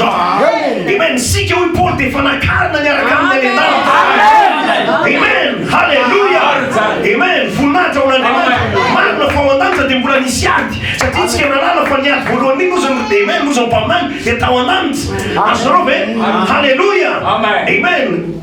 Amen! Isika hoy Paoly dia efa nakarina niaraka aminy any an-danitra. Amen! Haleloia! Amen! Voninahitra ho an'Andriamanitra. Marina fa ao an-danitra dia mbola nisy ady, satria isika nahalala fa ny ady voalohany indrindra ozy ny Amen, ozy ny mpaminany dia tao an-danitra. Azonareo ve? Haleloia! Amen!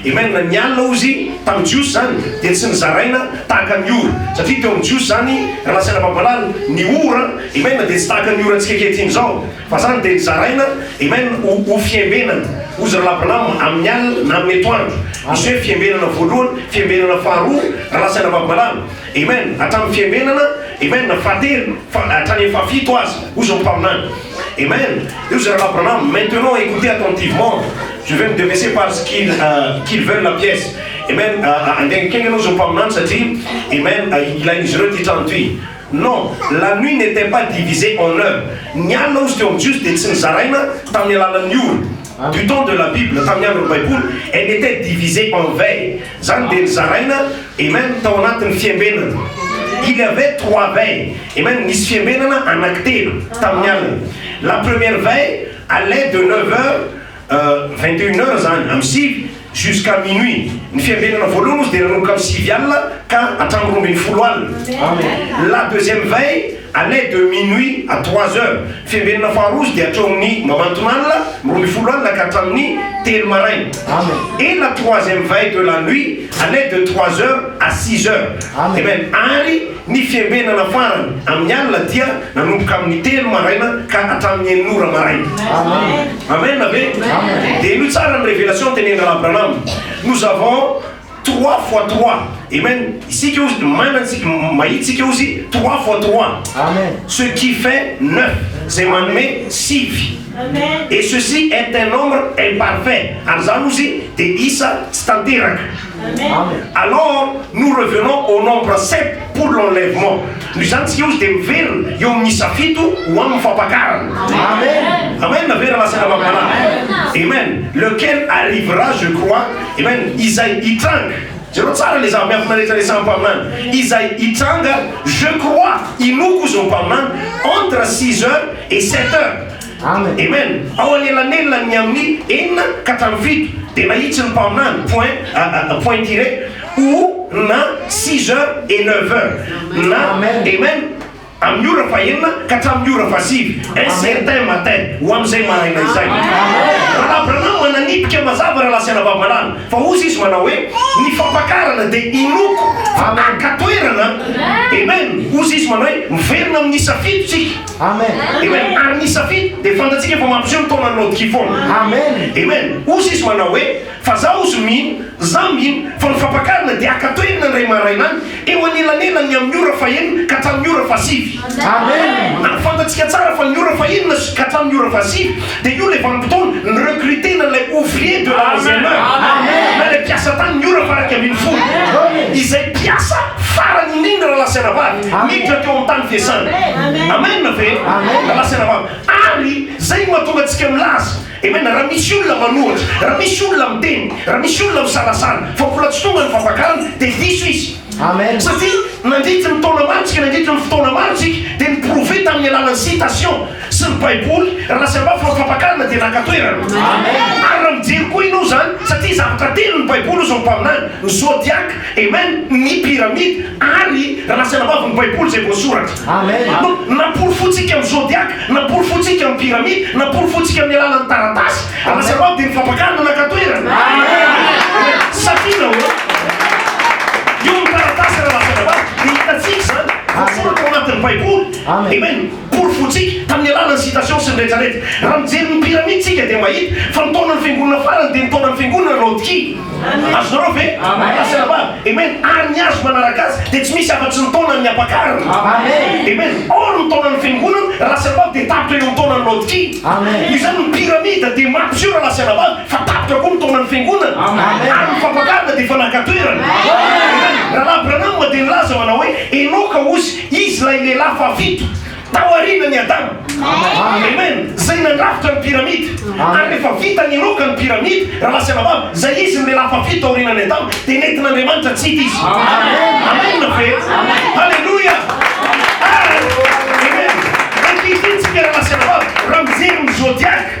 Amen ny alina hozy tamin'ny jiosy izany dia tsy nizaraina tahaka ny ora satria teo amin'ny jiosy izany raha nasaina mampahalala ny ora amen dia tsy tahaka ny orantsika ankehitriny izao fa izany dia nizaraina amen ho ho fiambenana hozy raha la branham amin'ny alina na amin'ny etoandro misy hoe fiambenana voalohany fiambenana faharoa raha nasaina mampahalala Amen hatramin'ny fiainenana Amen fahatelo fa hatramin'ny fahafito aza hoy izao mpaminany Amen eo izay rahalahy Branham maintenant écoutez attentivement je vais me déverser par ce qu'ils qu'ils veulent la pièce Amen angengikengy ianao izao mpaminany satria Amen ilain'izy ireo ity trano ity non la nuit n'était pas divisée en heures ny alina hozy teo amin'ny Jiosy dia tsy nizaraina tamin'ny alalan'ny ora Du temps de la bible, tamin'ny andron'ny baiboly, elle était divisée en veille, zany dia nizaraina, amen, tao anatin'ny fiambenana. Il y avait trois veilles, amen, nisy fiambenana anankitelo tamin'ny alina. La première veille allait de neuf heures, vingt et une heures zany, amin'ny sivy, Jusqu'à minuit. Ny fiambenana voalohany ozy dia nanomboka amin'ny sivy alina ka hatramin'ny roa ambin'ny folo alina. La deuxième veille allait de minuit à trois heures. Fiambenana faharoa ozy dia hatreo amin'ny mamanton'alina, ny roa ambin'ny folo alina ka hatramin'ny telo maraina. Et la troisième veille de la nuit allait de trois heures à six heures. Amen. Ary Ny fiambenana farany amin'ny alina dia nanomboka amin'ny telo maraina ka hatramin'ny enina ora maraina. Amen ve? Dia henoy tsara ny révélation tenenin'i Rahalahy Branham. Nous avons trois fois trois. Amen. Isika hozy maina tsy mahita isika hozy trois fois trois. Ce qui fait neuf. Izay manome sivy. Et ceci est un nombre imparfait. Ary izany hozy dia isa tsy tanteraka. Alors nous revenons au nombre sept pour l'enlèvement. Noho izany tsika ozy dia miverina eo amin'ny isa fito ho amin'ny fampakarana. Amen na ve raha latsaka amam-panahy? Amen. Lequel arrivera je crois. Amen. Izay hitranga. Jereo tsara ilay zava-miafina rehetra resahan'ny mpaminany. Izay hitranga je crois, inoako hozy ny mpaminany, entre six heures et sept heures. Amen! Ao anelanelan ny amin'ny enina ka hatramin'ny fito dia mahitsy ny mpaminany, point, point tiré, ou na six heures et neuf heures na, amen, amin'ny ora fahenina ka hatramin'ny ora fahasivy, un certain matin, ho amin'izay maraina izay. Rahalahy Branham mananipika mazava Rahalahy sy Anabavy malala, fa hozy izy manao hoe, Ny fampakarana dia inoako fa haka toerana, amen, hozy izy manao hoe, miverina amin'ny isa fito tsika. Amen. Amen. Ary ny safidy dia fantatsika fa mampiseho ny taolan'ny laodikia foana. Amen. Amen. Hozy izy manao hoe, Fa za hozy mino, za mino, fa ny fampakarina dia haka toerana indray maraina any, eo anelanelan'ny amin'ny ora fahenina ka hatramin'ny ora fahasivy. Amen. Ary fantatsika tsara fa ny ora fahenina sy ka hatramin'ny ora fahasivy Dia io ilay vanim-potoana ni-recruter-na ilay ouvrier de la onzième heure, na ilay mpiasa tany ny ora faharaika ambin'ny folo, izay mpiasa farany indrindra raha lahy sy anabavy miditra teo amin'ny tany fiasana. Amen ve? Raha lahy sy anabavy. Ary izay no mahatonga antsika milaza, Amen, raha misy olona manohatra, raha misy olona miteny, raha misy olona misalasala fa mbola tsy tonga ny fampakarana, dia diso izy. Amen. Satria nandritry ny taona maro tsika, nandritry ny fotoana maro tsika, dia ni-prouver tamin'ny alalan'ny citation sy ny Baiboly raha sy angaha fa ny fampakarana dia naka toerana. Amen. Ary raha mijery koa ianao izany, satria zavatra telo ny Baiboly hoy izao ny mpaminany, ny zodiac, amen, ny pyramide, ary raha sy angaha fa ny Baiboly izay voasoratra. Amen. Namporofointsika amin'ny zodiaka, namporofointsika amin'ny pyramide, namporofointsika amin'ny alalan'ny taratasy. Ary lasa anao dia ny fampakarina naka toerana. Amen. Safiana hoe eo ny taratasy raha lasa anao. Dia hitantsika izany voasoratra ao anatin'ny Baiboly. Amen. Porofointsika tamin'ny alalan'ny citation sy ny rehetra rehetra. Raha mijery ny pyramide isika dia mahita fa ny taonan'ny fiangonana farany dia ny taonan'ny fiangonana Laodikia. Azonareo ve? Amen. Amen. Ary ny azo manaraka azy dia tsy misy afa-tsy ny taonan'ny ampakarina. Amen. Amen. Or ny taonan'ny fiangonana raha sy anabavy dia tapitra eo amin'ny taonan'ny laodikia. Amen. Izany ny piramida dia mampiseho raha sy anabavy fa tapitra koa ny taonan'ny fiangonana. Amen. Ary ny fampakarina dia efa naka toerana. Amen. Rahalahy Branham dia nilaza manao hoe enoka ozy izy ilay lehilahy fahafito. Taoriana ny Adama. Amen. Zay nandrafitra ny pyramide. Ary rehefa vita niroka ny pyramide, rahalahy sy anabavy, zay izy ny lehilahy fahafito taoriana ny Adama, dia nentin'Andriamanitra tsy hita izy. Amen ve? Haleloia. Ary, amen, ankehitriny tsika rahalahy sy anabavy, raha mijery ny zodiac,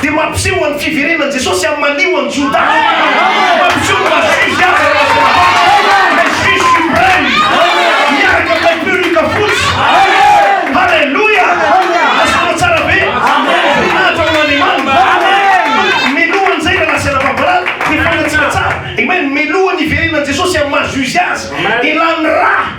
Dia mampiseho an'ny fiverenan'i Jesosy amin'ny malio an'i Jodà. Mampiseho ny maha Juge azy an'i Rajaravalo, ilay Juge supreme, miaraka amin'ilay perruque fotsy. Haleloia! Azonao tsara ve? Voninahitra ho an'Andriamanitra. Meloha an'izay raha nasehana fahavalana, dia fahitantsika tsara. Amen. Meloha ny hiverenan'i Jesosy amin'ny maha Juge azy. Elan'ny ra.